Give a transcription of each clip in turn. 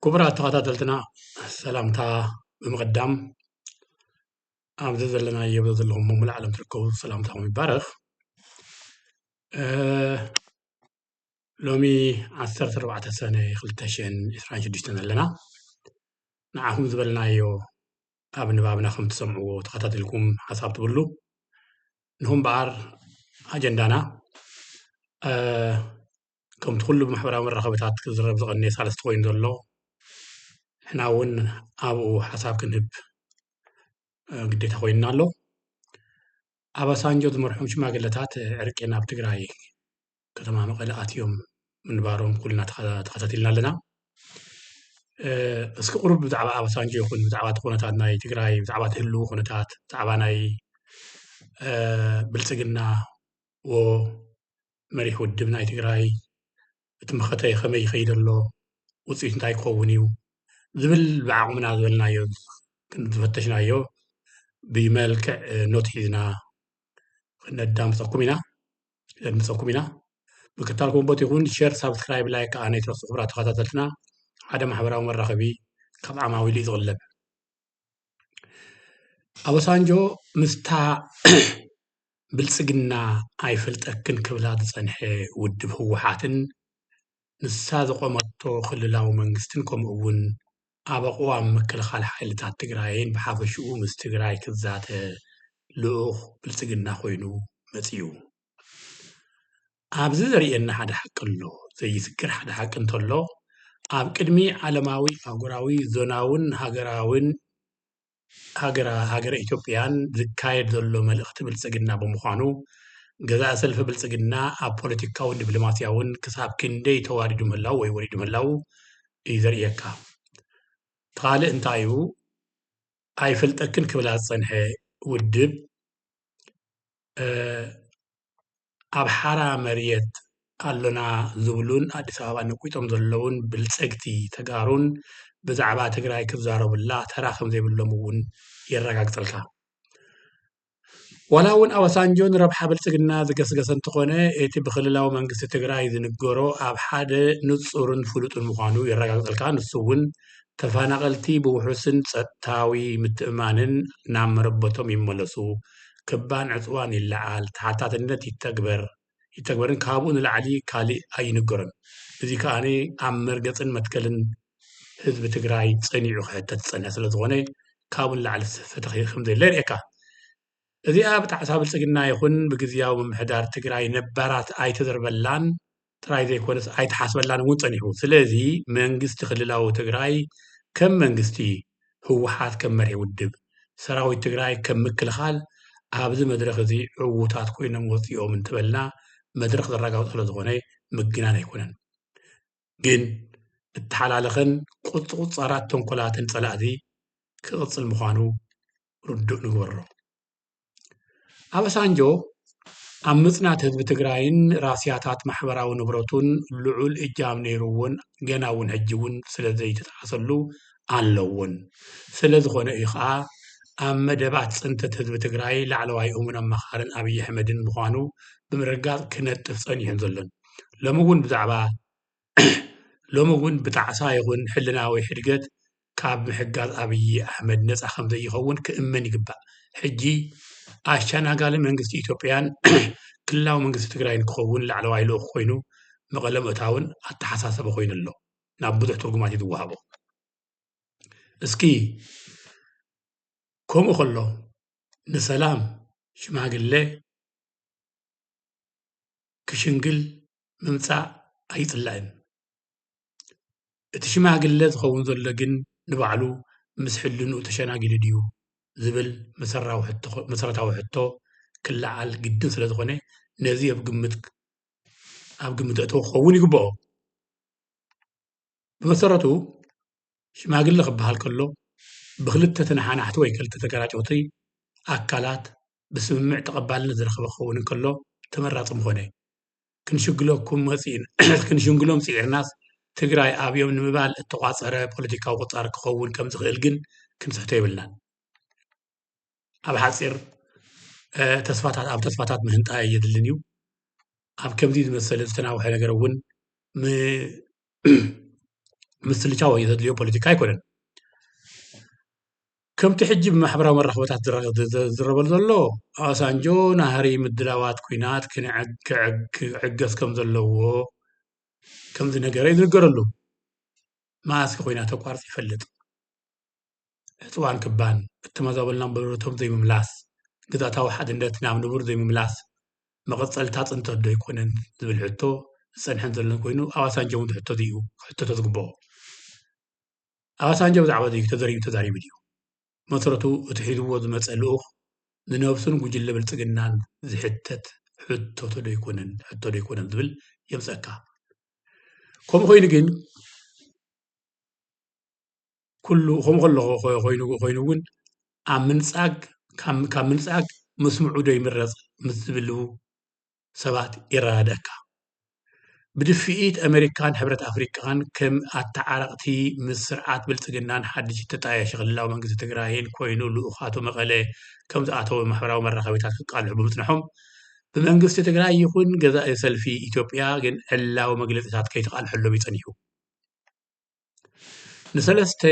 ክቡራት ተኸታተልትና ሰላምታ ብምቕዳም ኣብዚ ዘለናዮ ዘለኹም መሙሉ ዓለም ትርከቡ ሰላምታኹም ይባረኽ ሎሚ 14 ሰነ 2026 ኣለና ንዓኹም ዝበልናዮ ኣብ ንባብና ከም ትሰምዕዎ ተኸታቲልኩም ሓሳብ ትብሉ ንኹም በኣር ኣጀንዳና ከምቲ ኩሉ ብማሕበራዊ መራኸብታት ክዝረብ ዝቐነየ ሳልስቲ ኮይኑ ዘሎ ንሕና እውን ኣብኡ ሓሳብ ክንህብ ግዴታ ኮይንና ኣሎ ኣባሳንጆ ዝመርሖም ሽማግለታት ዕርቂ ናብ ትግራይ ከተማ መቐለ ኣትዮም ምንባሮም ኩልና ተኸታቲልና ኣለና። እስኪ ቁሩብ ብዛዕባ ኣባሳንጆ ይኹን ብዛዕባ እቲ ኩነታት ናይ ትግራይ ብዛዕባ እቲ ህልዊ ኩነታት ብዛዕባ ናይ ብልፅግና መሪሕ ውድብ ናይ ትግራይ እቲ መኸተ ከመይ ይኸይድ ኣሎ ውፅኢቱ እንታይ ክኸውን እዩ ዝብል ብዓቕምና ዝበልናዮ ዝፈተሽናዮ ብመልክዕ ኖት ሒዝና ከነዳምፀኩም ኢና። ለምፀኩም ኢና ምክታል ኮምቦት ይኹን ሸር ሳብስክራይብ ላይ ከዓ ነይትረሱ ክብራ ተኸታተልትና ሓደ ማሕበራዊ መራኸቢ ካብ ዓማዊሉ እዩ ዝቕለብ ኣበሳንጆ ምስታ ብልፅግና ኣይፈልጠክን ክብላ ዝፀንሐ ውድብ ህወሓትን ንሳ ዘቖመቶ ክልላዊ መንግስትን ከምኡ እውን ኣብ ኣቕዋም ምክልኻል ሓይልታት ትግራይን ብሓፈሽኡ ምስ ትግራይ ክዛተ ልኡኽ ብልፅግና ኮይኑ መፂኡ። ኣብዚ ዘርእየና ሓደ ሓቂ ኣሎ፣ ዘይዝክር ሓደ ሓቂ እንተሎ ኣብ ቅድሚ ዓለማዊ፣ ኣህጉራዊ፣ ዞናውን ሃገራውን ሃገረ ሃገረ ኢትዮጵያን ዝካየድ ዘሎ መልእኽቲ ብልፅግና ብምዃኑ ገዛኢ ሰልፊ ብልፅግና ኣብ ፖለቲካውን ዲፕሎማሲያውን ክሳብ ክንደይ ተዋዲዱ ምህላዉ ወይ ወሪዱ ምህላዉ እዩ ዘርእየካ። እቲ ካልእ እንታይ እዩ ኣይፈልጠክን ክብላ ዝፀንሐ ውድብ ኣብ ሓራ መርየት ኣሎና ዝብሉን ኣዲስ ኣበባ ነቊጦም ዘለዉን ብልፀግቲ ተጋሩን ብዛዕባ ትግራይ ክዛረቡላ ተራ ከምዘይብሎም እውን የረጋግፀልካ። ዋላ እውን ኣባሳንጆ ንረብሓ ብልፅግና ዝገስገሰ እንተኾነ እቲ ብክልላዊ መንግስቲ ትግራይ ዝንገሮ ኣብ ሓደ ንፁርን ፍሉጥን ምዃኑ የረጋግፀልካ። ንሱ እውን ተፈናቐልቲ ብውሑስን ፀጥታዊ ምትእምማንን ናብ መረበቶም ይመለሱ ክባን ዕፅዋን ይለዓል፣ ተሓታትነት ይተግበር፣ ይተግበርን ካብኡ ንላዕሊ ካሊእ ኣይንገሮን። እዚ ከኣ ኣብ መርገፅን መትከልን ህዝቢ ትግራይ ፀኒዑ ክሕተት ዝፀንሐ ስለዝኾነ ካብኡ ንላዕሊ ፍትሒ ከምዘየለ የርእየካ። እዚኣ ብጣዕሳ ብልፅግና ይኹን ብግዝያዊ ምምሕዳር ትግራይ ነባራት ኣይተዘርበላን ጥራይ ዘይኮነስ ኣይተሓስበላን እውን ፀኒሑ። ስለዚ መንግስቲ ክልላዊ ትግራይ ከም መንግስቲ፣ ህወሓት ከም መሪሕ ውድብ፣ ሰራዊት ትግራይ ከም ምክልኻል ኣብዚ መድረኽ እዚ ዕዉታት ኮይኖም ወፂኦም እንትበልና መድረኽ ዘራጋግፆ ስለዝኾነ ምግናን ኣይኮነን። ግን እተሓላለኸን ቁፅቑፃራት ተንኮላትን ፀላእቲ ክቕፅል ምዃኑ ርዱእ ንግበሮ። ኣባሳንጆ ኣብ ምፅናት ህዝቢ ትግራይን ራስያታት ማሕበራዊ ንብረቱን ልዑል እጃም ነይሩዎን ገና እውን ሕጂ እውን ስለ ዘይተጠቐሰሉ ኣለዎን። ስለ ዝኾነ እዩ ኸዓ ኣብ መደባት ፅንተት ህዝቢ ትግራይ ላዕለዋይ እሙን ኣማኻርን ኣብይ ኣሕመድን ምዃኑ ብምርግጋፅ ክነጥፍ ፀኒሑን ዘሎን። ሎሚ እውን ብዛዕባ ሎሚ እውን ብጣዕሳ ይኹን ሕልናዊ ሕድገት ካብ ምሕጋዝ ኣብይ ኣሕመድ ነፃ ከምዘይኸውን ክእመን ይግባእ። ሕጂ ኣሸናጋሊ መንግስቲ ኢትዮጵያን ክልላዊ መንግስቲ ትግራይን ክኸውን ላዕለዋይ ልኡኽ ኮይኑ መቐለ ምእታውን ኣተሓሳሰቢ ኮይኑ ኣሎ። ናብ ብዙሕ ትርጉማት እዩ ዝወሃቦ። እስኪ ከምኡ ከሎ ንሰላም ሽማግለ ክሽንግል ምምጻእ ኣይጽላእን። እቲ ሽማግለ ዝኸውን ዘሎ ግን ንባዕሉ ምስ ሕልንኡ ተሸናጊሉ ድዩ ዝብል መሰረታዊ ሕቶ ክለዓል ግድን ስለ ዝኾነ ነዚ ኣብ ግምት ኣብ ግምት ኣእተዎ ክኸውን ይግበኦ። ብመሰረቱ ሽማግለ ክበሃል ከሎ ብክልተ ተነሓናሕቲ ወይ ክልተ ተጋራጨውቲ ኣካላት ብስምምዕ ተቐባልነት ዝረኸበ ክኸውን እንከሎ ተመራጺ ምኾነ። ክንሽንግሎም ጽዒርናስ ትግራይ ኣብዮም ንምባል እተቋጸረ ፖለቲካዊ ቁጻር ክኸውን ከምዝኽእል ግን ክንስሕቶ የብልናን። ኣብ ሓጺር ተስፋታት ኣብ ተስፋታት ምህንጣ የድልን እዩ። ኣብ ከምዚ ዝመሰለ ዝተናውሐ ነገር እውን ምስልቻው ዘድልዮ ፖለቲካ ኣይኮነን። ከምቲ ሕጂ ብማሕበራዊ መራኸቢታት ዝዝረበሉ ዘሎ፣ ኦባሳንጆ ናህሪ ምድላዋት ኲናት ክዕገስ ከም ዘለዎ ከም ዝነገረ እዩ ዝንገረሉ። መኣስከ ኲናት ኣቋሪጹ ይፈልጥ? ዕጽዋን ክባን፣ እተመዛበሉና ንበረረቶም ዘይምምላስ፣ ግዝኣታዊ ሓድነት ናብ ንቡር ዘይምምላስ መቐጸልታ እታ ጽንተትዶ ኣይኮነን ዝብል ሕቶ ዝጸንሐን ዘሎን ኮይኑ፣ ኦባሳንጆ እውን እቲ ሕቶ እዚ እዩ ክሕተቶ ዝግበኦ። ኣባሳንጆ ብዛዕባ እዚ ተዘርዩ ተዛሪቡ ድዩ? መሰረቱ እቲ ሒዝዎ ዝመጸ ልኡኽ ንነብሱን ጉጅለ ብልጽግናን ዝሕተት ሕቶቶ ዶይኮነን ሕቶ ዶይኮነን ዝብል የምጸካ። ከምኡ ኮይኑ ግን ኩሉ ከምኡ ከለኹ ኮይኑ ኮይኑ እውን ኣብ ምንጻግ ካብ ምንጻግ ምስምዑ ዶ ይምረጽ ምስ ዝብሉ ሰባት ይረዳድኣካ። ብድፍኢት ኣመሪካን ሕብረት ኣፍሪቃን ከም ኣተዓረቕቲ ምስ ስርዓት ብልጽግናን ሓድሽ እተጣየሸ ክልላዊ መንግስቲ ትግራይን ኮይኑ ልኡኻቱ መቐለ ከም ዝኣተዉ ማሕበራዊ መራኸቢታት ክቃልሑ ብምጽንሖም ብመንግስቲ ትግራይ ይኹን ገዛኢ ሰልፊ ኢትዮጵያ ግን ዕላዊ መግለጺታት ከይተቃልሐሎም እዩ ጸኒሑ። ንሰለስተ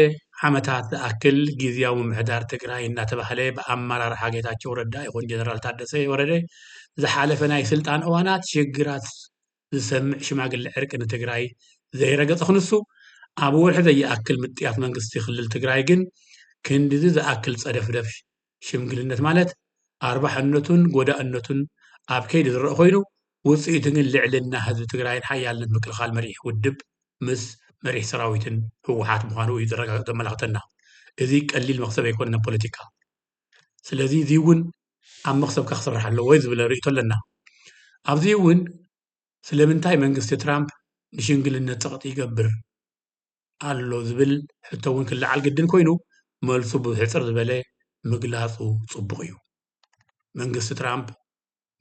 ዓመታት ዝኣክል ግዝያዊ ምምሕዳር ትግራይ እናተባህለ ብኣመራርሓ ጌታቸው ረዳ ይኹን ጀነራል ታደሰ ወረደ ዝሓለፈ ናይ ስልጣን እዋናት ሽግራት ዝሰምዕ ሽማግለ ዕርቂ ንትግራይ ዘይረገፀ ክንሱ ኣብ ወርሒ ዘይኣክል ምጥያስ መንግስቲ ክልል ትግራይ ግን ክንድዚ ዝኣክል ፀደፍደፍ ሽምግልነት ማለት ኣርባሕነቱን ጎዳእነቱን ኣብ ከይዲ ዝረእ ኮይኑ ውፅኢቱ ግን ልዕልና ህዝቢ ትግራይን ሓያልነት ምክልኻል መሪሕ ውድብ ምስ መሪሕ ሰራዊትን ህወሓት ምዃኑ እዩ ዘረጋግፅ ዘመላኽተና። እዚ ቀሊል መኽሰብ ኣይኮነን ኣብ ፖለቲካ። ስለዚ እዚ እውን ኣብ መኽሰብካ ክስራሕ ኣለዎ ዝብል ርእይቶ ኣለና። ኣብዚ እውን ስለምንታይ መንግስቲ ትራምፕ ንሽምግልነት ፀቕጢ ይገብር? ኣሎ ዝብል ሕቶ እውን ክለዓል ግድን ኮይኑ መልሱ ብሕፅር ዝበለ ምግላፁ ፅቡቕ እዩ። መንግስቲ ትራምፕ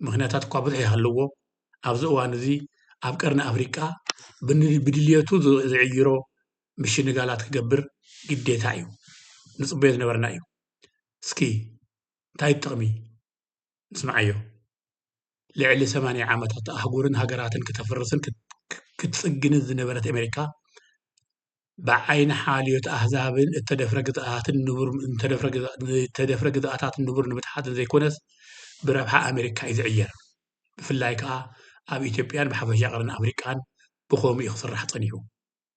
ምኽንያታት እኳ ብዙሕ ይሃልዎ ኣብዚ እዋን እዚ ኣብ ቀርኒ ኣፍሪቃ ብድልየቱ ዝዕይሮ ምሽንጋላት ክገብር ግዴታ እዩ። ንፅበዮ ዝነበርና እዩ። እስኪ እንታይ ጥቕሚ ስምዓዮ ልዕሊ ሰማንያ ዓመታት ኣህጉርን ሃገራትን ክተፍርስን ክትጽግንን ዝነበረት ኣሜሪካ ብዓይኒ ሓልዮት ኣህዛብን እተደፍረ ግዝኣትን ንቡር እተደፍረ ግዝኣ እተደፍረ ግዝኣታት ንቡር ንምትሓትን ዘይኮነስ ብረብሓ ኣሜሪካ እዩ ዝዕየር ብፍላይ ከኣ ኣብ ኢትዮጵያን ብሓፈሻ ቀርኒ ኣፍሪቃን ብኸምኡ እዩ ክስራሕ ጸኒሑ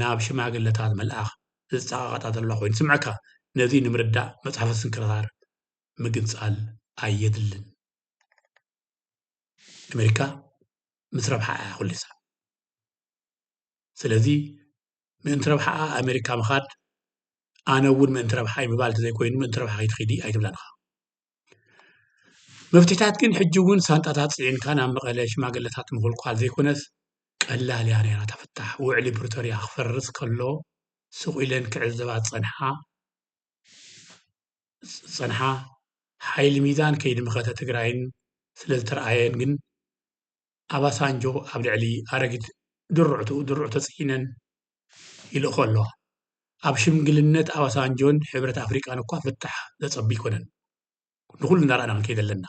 ናብ ሽማግለታት ምልኣኽ ዘጸቓቕጣ ዘላ ኮይኑ ይስምዓካ። ነዚ ንምርዳእ መጽሓፈ ስንክሳር ምግንጻል ኣየድልን። ኣመሪካ ምስ ረብሓኣ እያ ኩሊሳ። ስለዚ ምእንቲ ረብሓኣ ኣመሪካ ምኻድ ኣነ እውን ምእንቲ ረብሓይ ምባል ተዘይኮይኑ ምእንቲ ረብሓኺ ትኺዲ ኣይትብላን ኢኻ። መፍትሒታት ግን ሕጂ እውን ሳንጣታት ፅዒንካ ናብ መቐለ ሽማግለታት ምኹልኳል ዘይኮነስ ቀላል እያ ነይራ እታ ፍታሕ። ውዕሊ ፕሪቶርያ ክፈርስ ከሎ ስቕ ኢለን ክዕዘባ ዝፀንሓ ዝፀንሓ ሓይሊ ሚዛን ከይዲ መኸተ ትግራይን ስለዝተርኣየን ግን፣ ኣባሳንጆ ኣብ ልዕሊ ኣረጊት ድሩዕቱ ድሩዕ ተጽዒነን ይልእኾ ኣለዋ። ኣብ ሽምግልነት ኣባሳንጆን ሕብረት ኣፍሪቃን እኳ ፍታሕ ዘጸቢ ኣይኮነን ንኹሉ እናረኣና ክንከይድ ኣለና።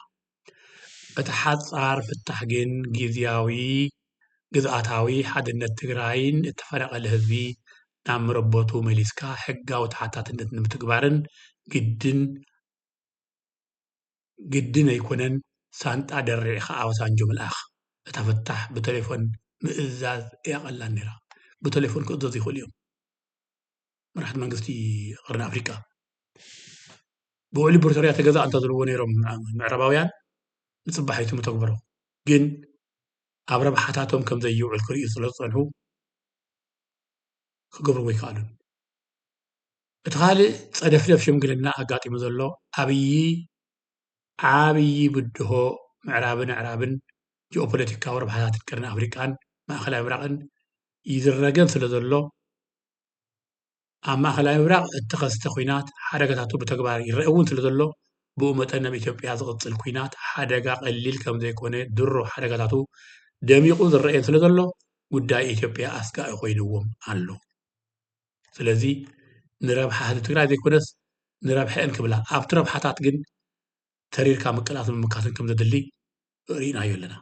እቲ ሓጻር ፍታሕ ግን ግዝያዊ ግዝኣታዊ ሓድነት ትግራይን እተፈናቐለ ህዝቢ ናብ መረበቱ መሊስካ ሕጋዊ ተሓታትነት ንምትግባርን ግድን ግድን ኣይኮነን ሳንጣ ደሪዕኻ ኣባሳንጆ ምልኣኽ። እታ ፈታሕ ብተሌፎን ምእዛዝ እያ ቀላል ነይራ። ብተሌፎን ክእዘዙ ይኽእሉ እዮም መራሕቲ መንግስቲ ቐርኒ ኣፍሪቃ። ብውዕሊ ፕሪቶርያ ተገዛእ እንተዝብልዎ ነይሮም ምዕራባውያን ንጽባሒቱ ምተግበሮ። ግን ኣብ ረብሓታቶም ከም ዘይውዕል ክርእዩ ስለዝጸንሑ ክገብርዎ ኣይከኣሉን። እቲ ካልእ ጸደፍደፍ ሽምግልና ኣጋጢሙ ዘሎ ኣብዪ ዓብዪ ብድሆ ምዕራብን ኣዕራብን ጂኦፖለቲካዊ ረብሓታትን ቀርኒ ኣፍሪቃን ማእከላይ ምብራቕን ይዝረገን ስለዘሎ ኣብ ማእከላይ ምብራቕ እተኸስተ ኲናት ሓደጋታቱ ብተግባር ይረኣ እውን ስለዘሎ ብኡ መጠን ኣብ ኢትዮጵያ ዝቕጽል ኲናት ሓደጋ ቀሊል ከምዘይኮነ ድሮ ሓደጋታቱ ደሚቑ ዝረኣየን ስለዘሎ ጉዳይ ኢትዮጵያ ኣስጋኢ ኮይንዎም ኣሎ። ስለዚ ንረብሓ ህዝቢ ትግራይ ዘይኮነስ ንረብሐኤን ክብላ ኣብቲ ረብሓታት ግን ተሪርካ ምቅላስን ምምካትን ከም ዘድሊ ርኢናዮ ኣለና።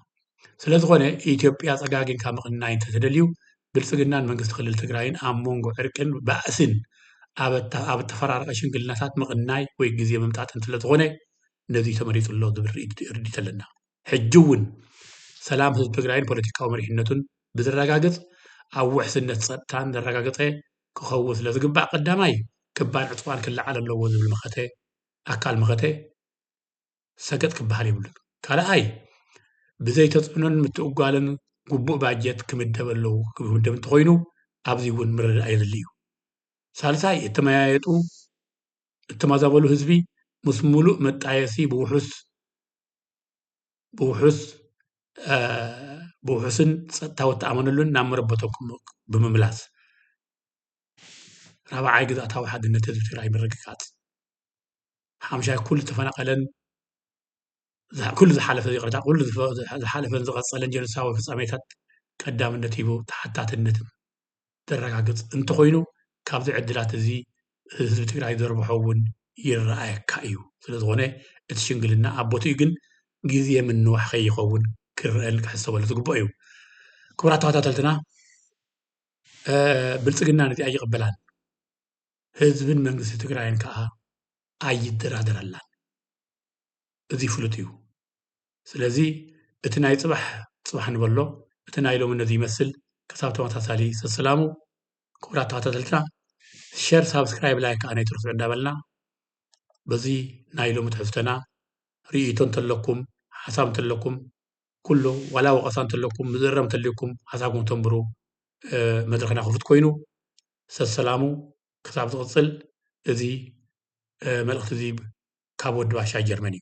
ስለዝኾነ ኢትዮጵያ ፀጋጊንካ ምቕናይ እንተተደልዩ ብልፅግናን መንግስቲ ክልል ትግራይን ኣብ ሞንጎ ዕርቅን ባእስን ኣብ እተፈራረቐ ሽምግልናታት ምቕናይ ወይ ግዜ ምምጣጥን ስለዝኾነ ነዙይ ተመሪፁ ኣሎ ዝብል ርድኢት ኣለና። ሕጂ እውን ሰላም ህዝቢ ትግራይን ፖለቲካዊ መሪሕነቱን ብዘረጋግፅ ኣብ ውሕስነት ፀጥታን ዘረጋገፀ ክኸውን ስለዝግባእ ቀዳማይ ክባን ዕፅዋን ክለዓል ኣለዎ ዝብል መኸተ ኣካል መኸተ ሰገጥ ክበሃል የብሉን። ካልኣይ ብዘይ ተፅዕኖን ምትእጓልን ግቡእ ባጀት ክምደብ ኣለዎ ክምደብ እንተኾይኑ ኣብዚ እውን ምርድዳእ የድሊ እዩ። ሳልሳይ እተመያየጡ እተማዛበሉ ህዝቢ ምስ ሙሉእ መጣየሲ ብውሑስ ብውሑስን ፀጥታዊ እትኣመነሉን ናብ መረበቶም ብምምላስ ራብዓይ ግዝኣታዊ ሓድነት ህዝቢ ትግራይ ምርግጋፅ ሓምሻይ ኩሉ ዝተፈናቀለን ኩሉ ዝሓለፈ ይቅረታ ኩሉ ዝሓለፈን ዝቀፀለን ጆኖሳዊ ፍፃሜታት ቀዳምነት ሂቡ ተሓታትነት ዘረጋግፅ እንተኾይኑ ካብዚ ዕድላት እዚ ህዝቢ ትግራይ ዘርብሖ እውን ይረኣየካ እዩ። ስለዝኾነ እቲ ሽምግልና ኣብ ቦትኡ ግን ግዜ ምንዋሕ ከይኸውን ክረኣን ክሕሰበሉ ዝግበኦ እዩ። ክቡራት ተኸታተልትና ብልፅግና ነዚ ኣይቕበላን ህዝብን መንግስቲ ትግራይን ከዓ ኣይደራደረላን እዚ ፍሉጥ እዩ። ስለዚ እቲ ናይ ጽባሕ ጽባሕ ንበሎ እቲ ናይ ሎሚ ነዚ ይመስል ክሳብ ተመሳሳሊ ሰስላሙ ክቡራት ተኸታተልትና ሸር ሳብስክራይብ ላይክ ከኣ ነይትርስዑ እንዳበልና በዚ ናይ ሎሚ ትሕዝቶና ርእይቶ እንተለኩም ሓሳብ እንተለኩም ኩሉ ዋላ ወቐሳ እንተለኩም ምዝረም እንተልዩኩም ሓሳብኩም ተንብሩ መድረኽና ክፉት ኮይኑ ሰሰላሙ ክሳብ ዝቕጽል እዚ መልእኽቲ እዚ ካብ ወዲ ባሻ ጀርመን እዩ።